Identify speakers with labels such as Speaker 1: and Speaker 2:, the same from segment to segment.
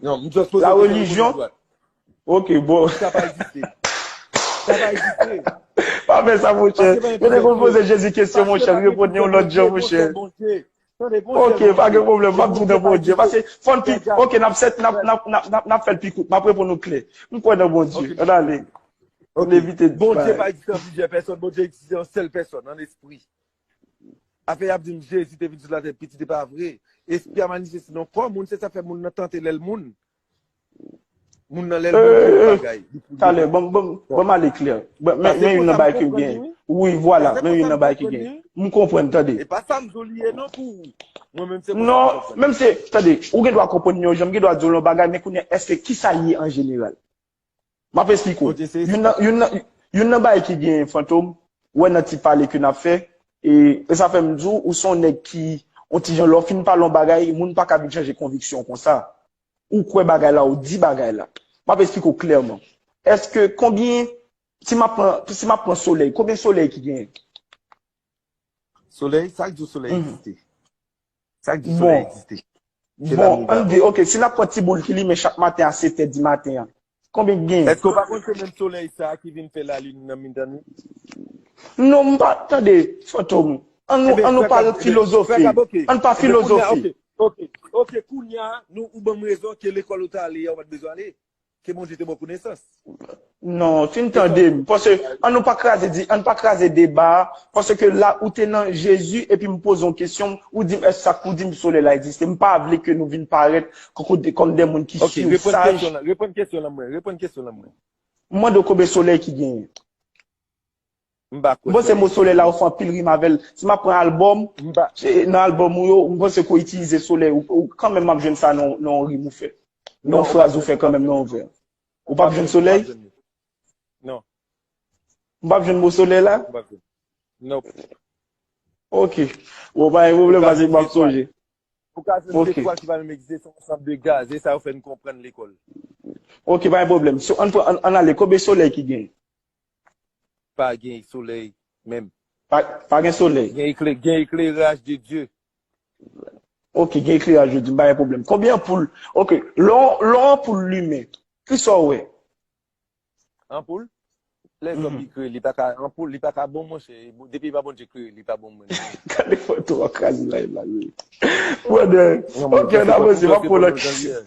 Speaker 1: Non, m just poze kesyon
Speaker 2: pou moun dwat. Ok, bon. Sa
Speaker 1: pa egziste. Sa pa egziste. Pa fè
Speaker 2: sa mon chè. Yo te konn poze Jezi kesyon mon chè, reponn yon lòt jan mon chè. Ok, pa gen pwoblèm, m ap di w nan Bondye. Pase, fò n pi, ok, n ap sèt, n ap fè l pi kout, m ap reponn ou klè. M kwè nan Bondye. An ale. An evite di bagay. Bondye pa egziste an
Speaker 1: plizyè pèsòn, Bondye egziste an sèl pèsòn, an espri. Afè yap dim jezi te vin sou latè pitit epa vre espri a manifeste nan kò moun se sa fè moun nan tante lèl moun moun nan lèl moun tout bagay talè banm
Speaker 2: banm banm ale klè men yon nan bay ke gen wi vwala men yon nan bay ke gen m konprann tande epa sam zo liye
Speaker 1: non pou ou mwen menm se non menm se
Speaker 2: tande ou gen dwa konprann yon jan m gen dwa di w yon bagay men kounye eske kisa liye an jeneral M ap esplike w. Youn nan bagay ki gen Fantom wè nan ti pale ke n ap fè, e sa fè m di w ou se yon nèg ki yon ti jan lè w fin pale yon bagay, moun pa ka vin chanje konviksyon w konsa. Ou kwè bagay la, ou di bagay la. M ap esplike w klèman. Èske konbyen, si m ap pran solèy, konbyen solèy ki genyen? Solèy,
Speaker 1: sa k di w solèy egziste? Sa k di w solèy egziste? Bon, an n
Speaker 2: di, ok, si n ap pran ti boul ki limen chak maten a setè di maten an, konbyen ki genyen? Èske w pa konn se menm solèy
Speaker 1: sa a ki vin fè lalin nan mitan nuit?
Speaker 2: Non, m pa, tande, Fantom, an nou pa filozofe, an n pa filozofe. Ok, ok, ok,
Speaker 1: ok, kounye a, ou ban m rezon ke lekòl ou te ale yè ou pa t bezwen ale. Ke Bondye te baw konesans. Non,
Speaker 2: fin tande m, paske an nou pa kraze di, an n pa kraze deba a, paske la ou te nan Jezi epi m poze yon kesyon, ou di m èske sa k pou di m solèy la egziste, m pa vle ke nou vin parèt kòm de moun ki sur saj. Ok, reponn kesyon lan mwen,
Speaker 1: reponn kesyon lan mwen. M mande w
Speaker 2: konbyen solèy ki genyen? M pa kwè sa. Mpanse mo solèy la ou fè anpil rim avèl. Si map pran album, nan album ou yo, mpanse ke ou itilize solèy ou kanmenm map jwenn sa nan yon rim ou fè. Nan yon fraz ou fè kanmenm nan yon vè. Ou pap jwenn solèy? Non. M pap jwenn mo solèy la? M pap jwenn. Nope. Ok. Bon pa gen pwoblèm pase map sonje. Ou ka jwenn
Speaker 1: zetwal ki pa menm egziste se yon ansanm de gaz. Se sa yo fè n konprann lekòl. Ok pa
Speaker 2: gen pwoblèm. An ale konbyen solèy ki genyen?
Speaker 1: Pa gen solèy menm. Pa gen
Speaker 2: solèy. Gen ekleraj
Speaker 1: de Dye.
Speaker 2: Ok, gen ekleraj de Dye, m pa gen pwoblèm. Konbyen anpoul? Ok, lè yon anpoul limen, ki sa w wè?
Speaker 1: Anpoul? Lè zòm li klere, li pa ka anpoul, li pa ka bon monchè. Depi e pa Bondye klere, li pa bon mwen. Gade foto w ap
Speaker 2: kraze live la. Brother, ok, n avanse, m ap pran w nan.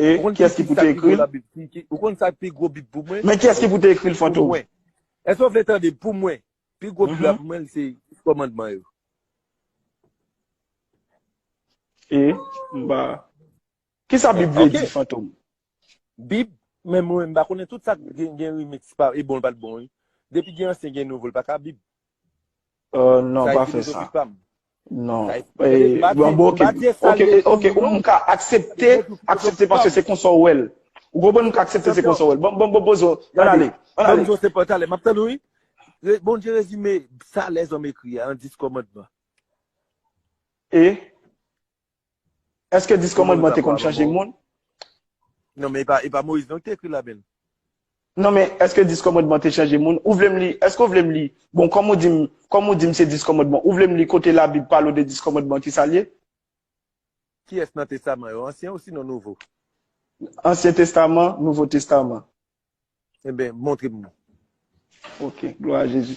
Speaker 2: E, kiyès ki pou te ekri l? Ou konn sa ki
Speaker 1: pi gwo bib pou mwen? Men kiyès ki pou te ekri l,
Speaker 2: Fantom? Pou mwen. Èske w vle
Speaker 1: tande? Pou mwen, pi gwo bib la pou mwen se Dis Kòmandman yo.
Speaker 2: E, m pa. Kisa bib vle di, Fantom? Bib,
Speaker 1: men mwen m pa konnen tout sa gen remix pa e bon l pa t bon wi. Depi gen ansyen gen nouvo l pa ka bib. Euh
Speaker 2: non pa fè sa. Non. Bon bon ok. Ok ok ou m ka aksepte, aksepte paske se konsa ou wèl. Ou konprann m ka aksepte se konsa ou wèl. Bon bon bon bozo, an ale. An ale. Bozo se pòtale,
Speaker 1: m ap tann ou wi. Bondye rezime sa lèzòm ekri a an 10 kòmandman.
Speaker 2: E? Eske 10 komandman te konn chanje moun? Non
Speaker 1: men e pa Moyiz non ki te ekri la bèl. Non men
Speaker 2: eske 10 komandman te chanje moun? Ou vle m li, eske ou vle m li, bon kòm ou di m, kòm ou di m se 10 komandman, ou vle m li kote labib pale w de 10 komandman ki sa l ye?
Speaker 1: Kiyès nan testaman yo, ansyen ou sinon nouvo? Ansyen
Speaker 2: testaman, nouvo testaman. Enben,
Speaker 1: montre m li. Ok,
Speaker 2: glwa a Jezi.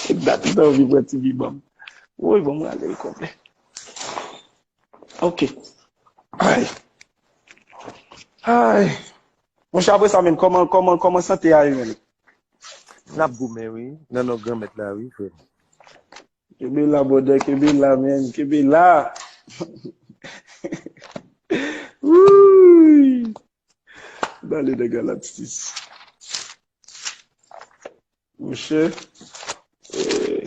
Speaker 2: Se dat m te anvi pran ti bi banm. Woy banm rale l konplè. Ok. Ay. Ay. Monchè apre sa menm kòman kòman kòman sante a yo menm?
Speaker 1: Nap goumen wi nan non Granmèt la wi frè m. Kenbe
Speaker 2: la brother kenbe la man kenbe la wouuyy bale nan galaxis monchè eeh.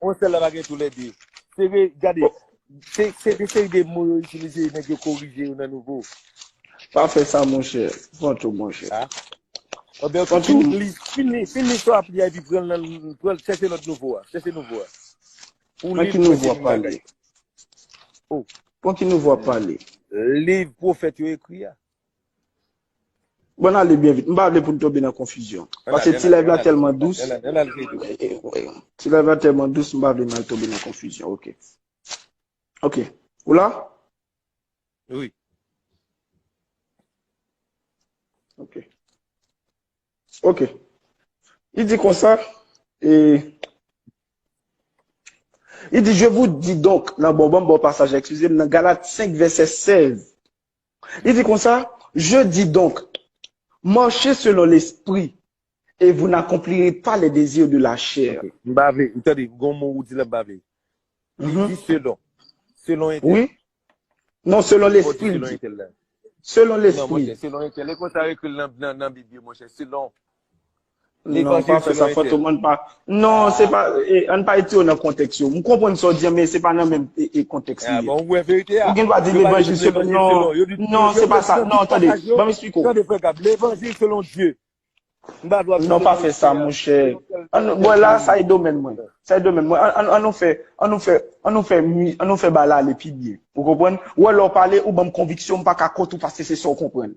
Speaker 2: Bon sèl
Speaker 1: la pa gen tou lè 2. Se vre gade se se de seri de mo yo itilize nèg yo korije yo nan nouvo. Pa fè
Speaker 2: sa monchè Fantom monchè. A
Speaker 1: Bon bè ok fin Fantom li fin li fin li sa wap li a epi pran nan pran chèche lòt nouvo a chèche nouvo a pou Nan ki
Speaker 2: liv mwen nouvo se wap menm pale? bagay
Speaker 1: oh. Bon ki nouvo
Speaker 2: wap pale? Liv
Speaker 1: pwofèt yo ekri a. Bon
Speaker 2: nan ale byen vit. M pa vle pou n tonbe nan konfizyon. Pase ti live la tèlman dous. Ti live la tèlman dous m pa vle nan tonbe nan konfizyon. Ok. Ok. Ou la?
Speaker 1: Wi.
Speaker 2: Ok. Ok. Li di konsa. E. Li di je vou di donk nan bon bon bon pasaj. Eskize m nan Galat 5 vese 16. Li di konsa, Je dis donc, marchez selon l'esprit, et vous n'accomplirez pas les désirs de la chair. Ok, m pa vle, tande,
Speaker 1: gon mo ou di la m pa vle. Li di selon, selon entèl. Wi.
Speaker 2: Non, selon l'esprit li di.
Speaker 1: Selon l'esprit.
Speaker 2: Non
Speaker 1: monchè, selon
Speaker 2: entèl. E konsa
Speaker 1: yo ekri l nan bib yo monchè, selon.
Speaker 2: Non, pa fè sa fantom an pa. Non, se pa, an pa ete yo nan kontèks yo. M konprann sa w di an, men se pa nan menm kontèks li ye. A bon, ou wè verite
Speaker 1: a. Ou gen dwa di levanjil
Speaker 2: selon, non, non, se pa sa, non, tande, ban m esplike w. Tande frè Gab, levanjil
Speaker 1: selon Dye. M pa dwa.
Speaker 2: Non, pa fè sa monchè. Bon la, sa e domèn mwen. Sa e domèn mwen. An, an nou fè, an nou fè, an nou fè, an nou fè bal ale pi byen. Ou konprann? Ou wè lè w pale, ou ban m konviksyon, m pa ka kont ou paske se sa w konprann.